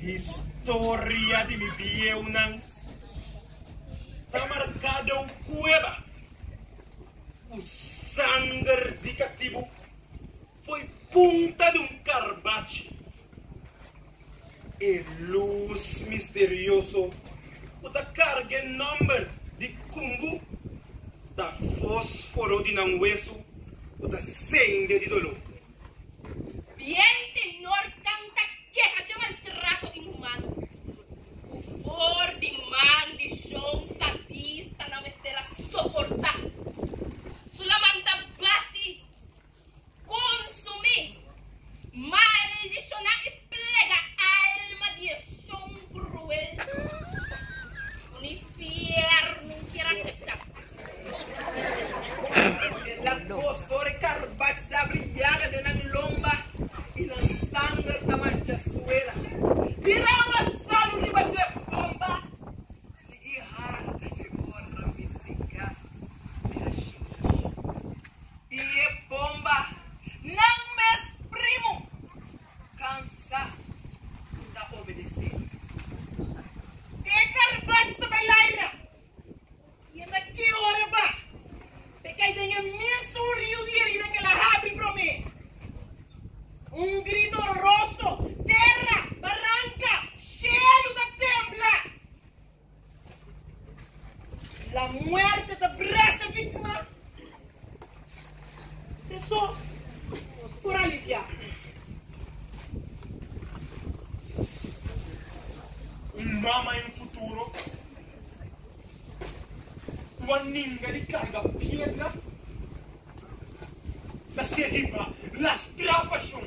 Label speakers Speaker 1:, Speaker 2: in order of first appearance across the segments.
Speaker 1: Historia di mi bieunan ta marca den un cueva cu sanger di catibu. Foi punta di un karbachi. E lus misterioso ku ta karga e nòmber di Kumbu ta fósforo di nan wesu ku ta sende di doló. Bien tenor tanta keha dje maltrato inhumano ku for di man di shon sadista nan mester a soportá. Sulaman ta bati. Konsumí maldishoná i plega alma di e shon kruel ku ni fièrnu kier aseptá. E laat boso di karbach ta abri yaga den nan lomba i nan sanger ta mancha suela. Tira un asalu riba dje bomba, sigui harta dje bòrra misica di Hashimish. y e bomba nan mes primo cansa cu ta obedece e carbach ta bay laira y e na ke ora ba pe cay den e misun rio di herida que la habri prome un grito horroroso terra baranca shelu ta tembla. La muerte ta brete víctima de so por aliviá. Un mama en futuro ku a ninga di karga piedra ta ser riba lastrá pashon.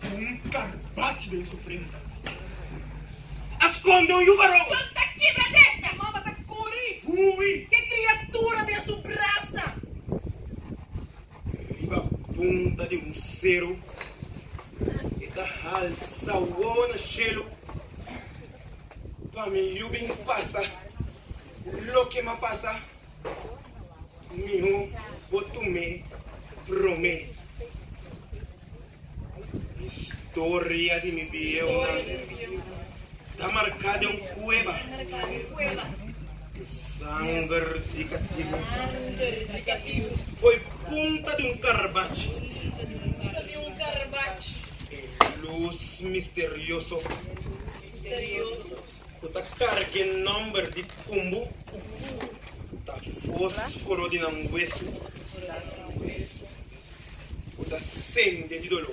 Speaker 1: Cu un carbach den su frente. A sconde un yuba rou. Sol ta kibra den. E mama ta cori. Hui. Ke criatura den su brasa. Riba punta di un cero. E ta halsa wowo na cielo. Pa mi yu bin pasa loke ma pasa. Miho bo tum'é promé. Historia di mi bieonan ta marká den un kueba. Ku sanger di katibu. Foi punta di un karbach. E lus misterioso. ku ta karg'é nòmber di Kumbu ta fósforo di nan wesu ku ta sende di doló.